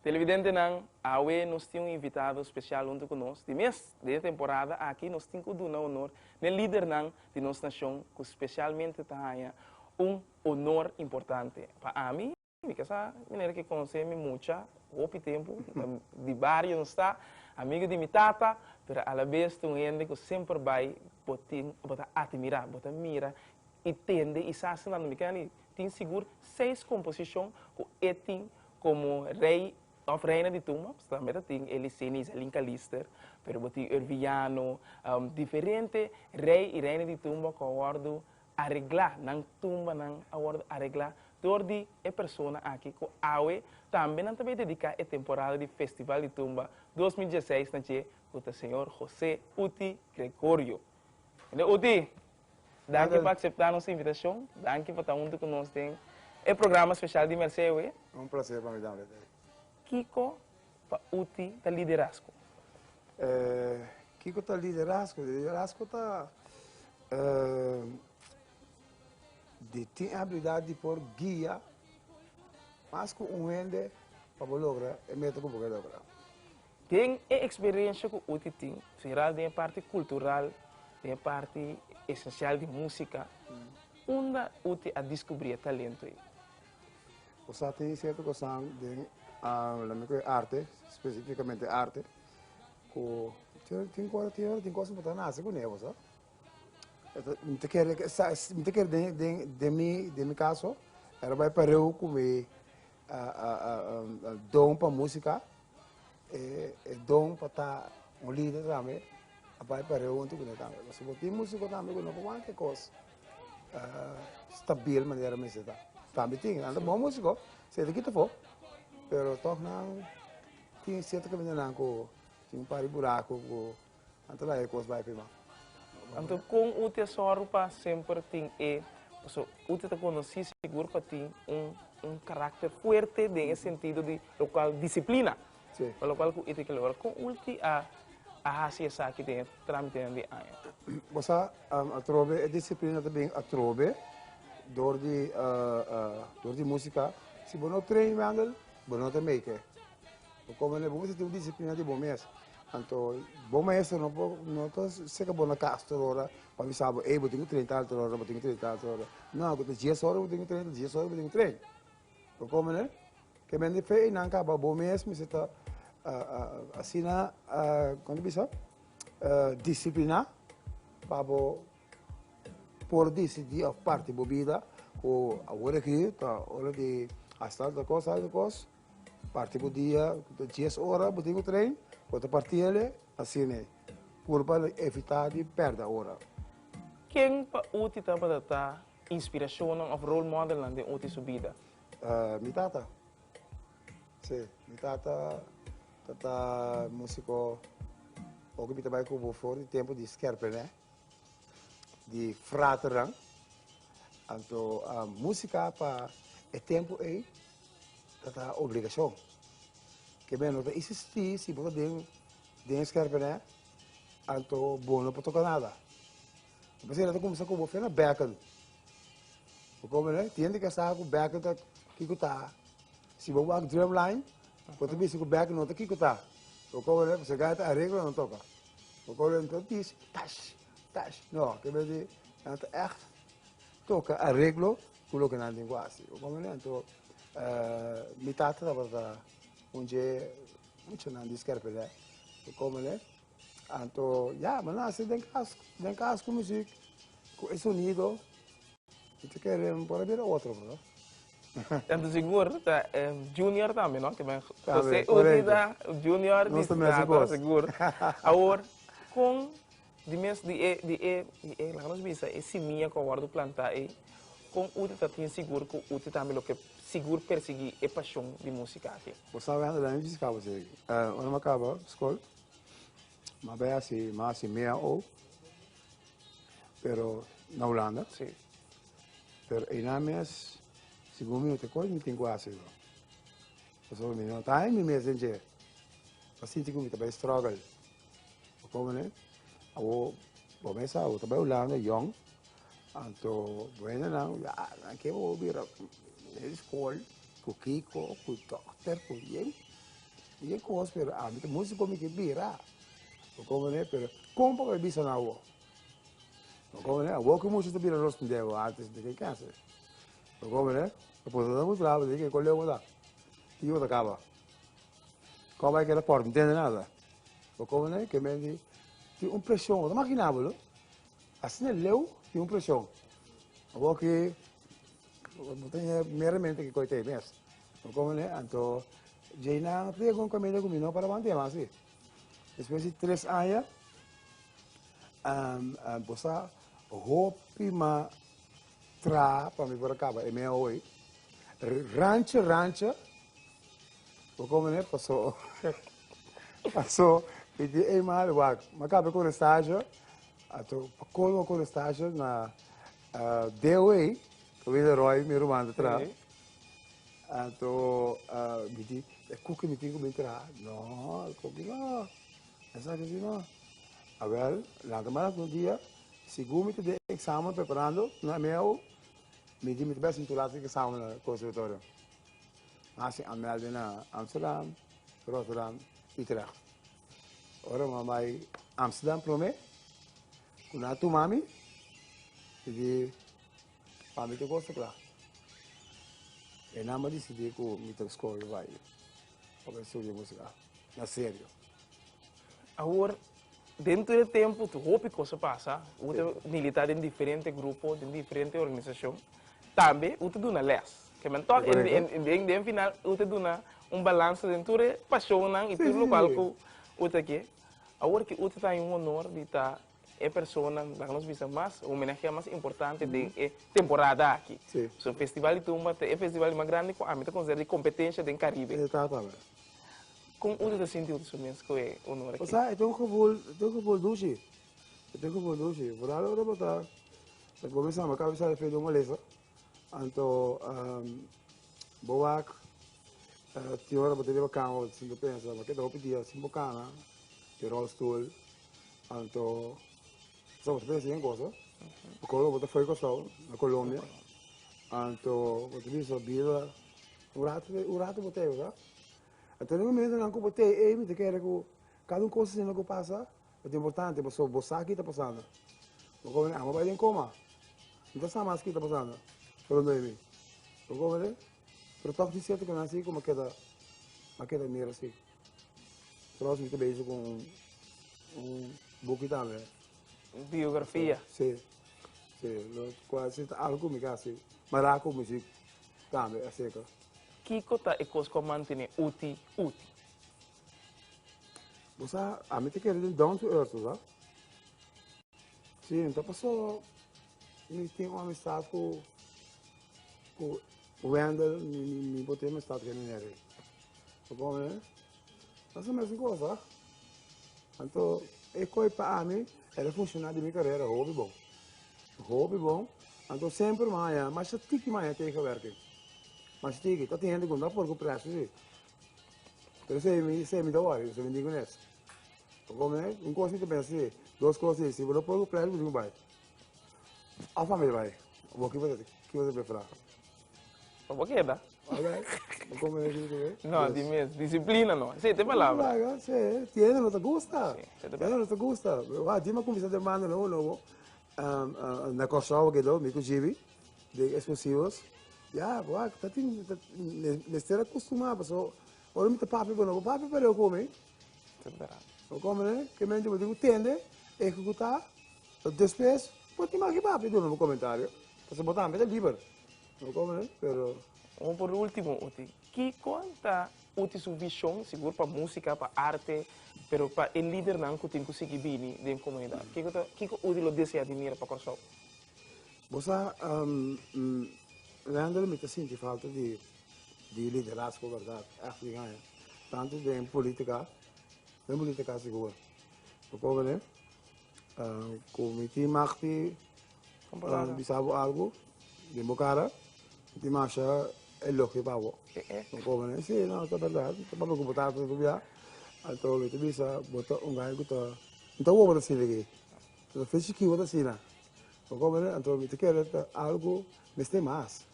Televidentenan, awe nos tin un invitado spesial huntu ku nos. Di mes, den e temporada aki nos tin ku duna honor n'e lidernan di nos nashon ku spesialmente ta haña un honor importante. Pa ami. Mi ka sa manera ki konse mi mucha, hopi tempu di bario nos ta, amigu di mi tata, pero alabes ta un hende ku semper bai bo tin, bo ta atimira, bo ta mira i tende i sa asina mi kende tin sigur seis komposishon ku e tin komo rei òf reina di tumba, paske tambe ta tin Elie Seni, Isaline Calister, pero bo tin Irvin Llano, diferente rei i reina di tumba ku a wòrdu areglá, nan tumbanan a wòrdu areglá dor di e persona aki ku awe tambe nan ta bai dediká e temporada di Festival di Tumba dos mil dieseis na dje, ku ta señor José Uti Gregorio. Señor Uti, danki pa akseptá nos invitashon, danki pa ta huntu ku nos den e programa speshal di Mersey awe. Un plasé pa mi tambe. Kiko pa uti ta liderazgo? Kiko ta liderazgo? Liderazgo ta di tin abilidat di por guia mas ku un hende pa bo logra e meta ku bo ke logra. Den e eksperensha ku uti tin, seral den e parti kultural, den e parti esensial di músika, unda uti a diskubrí e talentu ei? Bo sa tin sierto cosnan den lamen cu e arte, specificamente e arte, cu tin cos, tin hora tin cos bo ta nace cune bo sa. Mi ta kere, mi ta kere den, den, den mi, den mi caso, era bay pareu cu mi don pa musica, e don pa ta un lider tambe a bay pareu junto cu me tambe. Pasobra tin musico tambe cu no por wante cos. stabil manera mester ta tambe tin anda bon musico si ta kita fo pero toch nan tin cierto camindanan cu tin un par di buraco cu nan ta laga e cos bai pe mas. Anto con u ta zorgo pa semper tin e, pasobra u ta ta conoci segur pa tin un caracter fuerte den e sentido di locual disciplina. Pa lokual ku Ita kel ora kon ulti a a hasi esaki den e tramitenan di aña? Bo sa, atrobe e disiplina ta bin atrobe dor di dor di musika. Si bo no train Wendel, bo no ta make e. Bo komo manera bo mester tin un disiplina di bo mes. Anto bo maestro no por no ta seka bo na kas tur ora pa bisa bo, ey bo tin ku train tal tur ora, bo tin ku train tal tur ora. No, ku ta dies ora bo tin ku train, ta dies ora bo tin ku train. Kòmene ke men di fe einan kaba? Bo mes mester ta asina, kon ta bisa, disipliná pa bo por disidí òf parti bo bida ku awor aki ta ora di hasta alta kos, alta kos, parti bo dia, dies ora bo tin ku trein, bo ta parti ale asina puru pa evitá di pèrdè ora. Ken pa Uti tabata ta Inspiracionnan of role modelnan den uti su bida? Mi tata. Sí, mi tata ta ta musico. Oko mi ta bay cu bo for di tempo di Skerpene, di fraternan. Anto musica pa e tempo ey ta ta obligacion. Ke mene no ta isisti si bo ta den den Skerpene, anto bo no por toca nada. Bo ta siña ta kumsa ku bo fe na bèkkel. Bo ko omi e hende ke sa ku bèkkel ta kiko ta. Si bo wak Drumline, bo ta bisa ku bèkkel no ta kiko ta. Bo ko omi pasobra e ta areglo nan toka. Bo ko omi nan ta dis tash, tash. No, ke bes di nan ta ègt toka areglo ku loke nan tin ku hasi. Bo ko omi? Anto mi tata tabata un dje muchanan di Skerpelè. Bo ko omi? Anto ya mi nasi den cas den cas cu mi si cu e sonido mi ta kere mi por a bira otro bro. Tanto sigur ta eh, Junior tambe no? Ke men José Tambe, Uzi ta correcto. Junior Nos di ta mesa Scato cos. sigur. Awor con di mes di e di e di e laga nos bisa e simia cu a wordo planta ei con u ta tin sigur cu u ta tambe lo ke sigur persigi e pasion di musica aki? Bo sabe anto den mi bisa cabo si ey. Eh, ora mi a caba scol. Ma be hasi ma hasi mea o pero na Hulanda. Sí. Pero einan mes, según mi te coin, mi tin que hacer. Eso mi no está en mi mes en je. Así te mi te vai struggle. Como ne? Abo, bo mesa, abo te vai Holanda, young. Anto, bueno, na, ya, na que bo bira, na escola, cu Kiko, cu doctor, cu yen. Di e kos pero ami ta musico mi ke bira bo comprende pero con papai bisa na awor bo comprende awor ke mucha ta bira nos con diego artes de ke clase bo comprende bo por ta demostraba bo ta yeke coleo bo ta tin ke bo ta caba con bay keda por intende nada bo comprende ke men di tin un presion bo ta makina bolo asina e leu tin un presion awor ke bo ta yia meramente ke koyo ta e mes Bo komo ne? Anto djei nan a pide ku un kamiente ku mi no para want'e mas si. Despues di tres aña a bosa hopi mas traha pa mi por a kaba e mea oi. Rancha, rancha, bo komo ne? Paso paso mi di ey mari wak, m'a kaba e korestasio, anto pa kolmo korestasio na deo ei, Villeroy, mi ruman ta traha. Anto mi di, e kuki mi tin ku bin traha? No, e kuki no. Esaki si no. A wel, lanta manan ku un dia, segun mi ta den eksamen preparando na MEU, mi di mi ta bai sinti lat di eksamen na konservatorio. Mi a hasi anmelde na Amsterdam, Rotterdam, Utrecht. Ora mi a bai Amsterdam promé, ku nan a tuma mi, mi di Pa mi ta cosa cla. E nan ba decidi cu mi ta scoge bay pa bay studia musica. Na serio. Awor, dentro di e tempo tu hopi cosa pasa. U ta milita den diferente grupo, den diferente organisacion. Tambe u ta duna les. Ke men tok, den den final u ta duna un balanse den tur e pasionnan y tur locual cu u ta ke. Awor cu u ta traha un honor di ta e personanan laga nos bisa mas homenahea mas importante den e temporada aki. Si. So Festival di Tumba ta e festival di mas grandi ku ami ta konsidera di kompetensia den Karibe. E ta tabata. Kon unda ta sinti otoso mes ku e onor aki? O sa e ta un gebol, e ta un gebol dushi, e ta un gebol dushi. Verdad ora bo ta gome sama kaba bisa efeto molesta, anto bo wak tin ora bo ta riba kama bo ta sinti pensa, ma ke ta hopi dia sin bo kana, e rolstoel. Anto bo ta pensa den cosa, bo kono bo ta for di Kòrsou, na Colombia, anto bo ta bisa bira un rato te un rato bo ta ey, sa? A tene momentonan ku bo ta ey mi ta kere ku kada un cosa asina ku pasa bo ta importante pasobra bo sa ki ta pasando, bo komo ey amo bai den koma, mi ta sa mas ki ta pasando pero no ey mi, bo komo ey, pero tòg tin sierto kinan si ku mi a keda mi a keda mira si. Tros mi ta bezig ku un un buki tambe. Biografia. Si. Si, lo kua si ta algu ku mi ke hasi. Mara ku musik tambe a seka. Kiko ta e kos ku a mantené uti uti? Bo sa, ami ta kere den down to earth, bo sa. Si, mi ta pasó mi tin un amistat ku ku Wendel, mi bo tin un amistat ku e nené rei. Lo con eh? Pasa mesmo cosa. Anto, e coi pa ami, era funcionar de mi carrera, hobby bom. Hobby bom. Anto sempre maya, mas ya tiki maya tegenwerking. Mas tiki, tot gente con da por cu precio, sí. Pero se mi, se mi da worry, se mi digo nes. Lo con eh? Un cosa que te pensa, sí. Dos cosas, sí. Si vos lo por cu precio, vos digo bye. Afa mi bai. Bo ki bota ki bota be fra. No bo keda. Alright. Bo come me di be. No, di mes. Disciplina no. Se te palabra. Laga, se tiene no te gusta. Si, se te palabra. No te gusta. Wa di ma kumisa de mano no no bo. Um, uh, na Kòrsou ke do, mi ku Jibi, de explosivos. Ja, wa, ta tin, ta, mester akustumá, paso, ora mi ta papi bo no, bo papi pa reu kome. Bo kome, ke mente bo di ku tende, ekekutá. So despues bo tin maki papia duna bo comentario pasobra bo tambe ta liber. No como no pero. Vamos por ultimo Uti. Kico ta Uti su vision sigur pa musica, pa arte, pero pa e lidernan cu tin cu sigui bini den comunidad? Kico ta kico Uti lo desea di mira pa Corsou? Bo sa Randall mi ta sinti falta di di liderazgo berdad ef di aña tanto den politica den politica sigur no como no. Cu mi tin mag pi bisa bo algo den bo cara. Mi tin masha elogio pa bo. Bo come nan? Si, no, ta berdad. Papia cu bo tata ta tubia. Anto mi ta bisa bo ta un bay cu ta, no ta awor bo ta asina aki. No ta fechi ki bo ta asina. Bo come nan? Anto mi ta kere ta algo mester mas.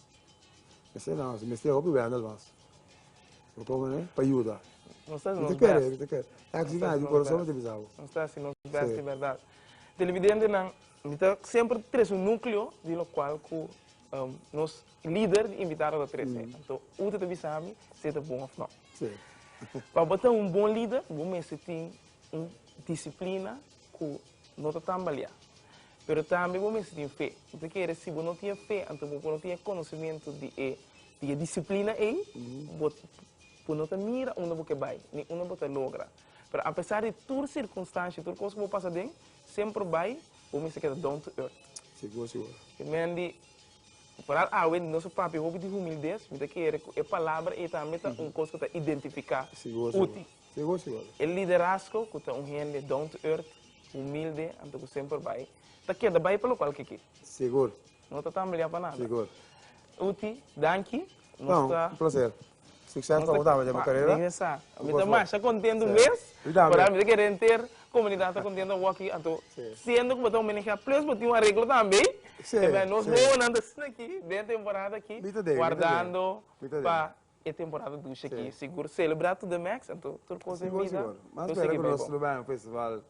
Mester no, mester hopi wenda lo mas. Bo ta omi nan pa yuda. Nos ta haci nos best. Mi ta kere, mi ta kere. Aki nan di corazon mi ta bisa bo. Nos ta haci nos best di berdad. Televidentenan, mi ta semper tres un nucleo di lo cual cu nos lider di invitado ta tres. Anto Ute ta bisa mi si e ta bon of no. Pa bo ta un bon lider, bo mester tin un disciplina cu no ta tambalea. Pero tambe bo mester tin fe. Mi ta kere si bo no tin e fe, anto bo por no tin e conocimento di e Di e disiplina ei bo por no ta mira unda bo ke bai, ni unda bo ta logra. Pero apesar di tur sirkunstanshi, tur kos ku bo pasa den, semper bai bo mester keda down to earth. Sigur, sigur. E mendi, paral awe di nos papia hopi di humildes, mi ta kere ku e palabra ei tambe ta un kos ku ta identifiká Uti. Sigur, sigur. E liderazgo ku ta un hende down to earth, humilde, anto ku semper bai ta keda bai pa lokual ke ke. Sigur. No ta tambelea pa nada. Sigur. Uti, danki. No, un placer. Succes pa bo tambe den bo carera. Regresa. Mi ta masha contento un mes. Mi tambe. Pasobra mi ta kere enter comunidad ta contento bo aki. Anto, siendo cu bo ta un BNG plus bo tin un areglo tambe. Si, si. Esaki nos bobonan ta asina aki den temporada aki. Mi ta den, mi ta den. Guardando pa E temporada dushi aki sigur celebra tur den Max anto tur cos en bida lo sigui bay bon.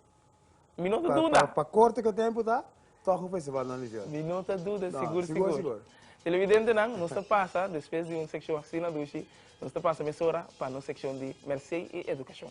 Mi no ta duda. Pa corto ca tempo ta toch un festival nan di Dios. Mi no ta duda sigur sigur. Televidentenan nos ta pasa despues di un seccion asina dushi nos ta pasa mesora pa nos seccion di Mercey y Educacion.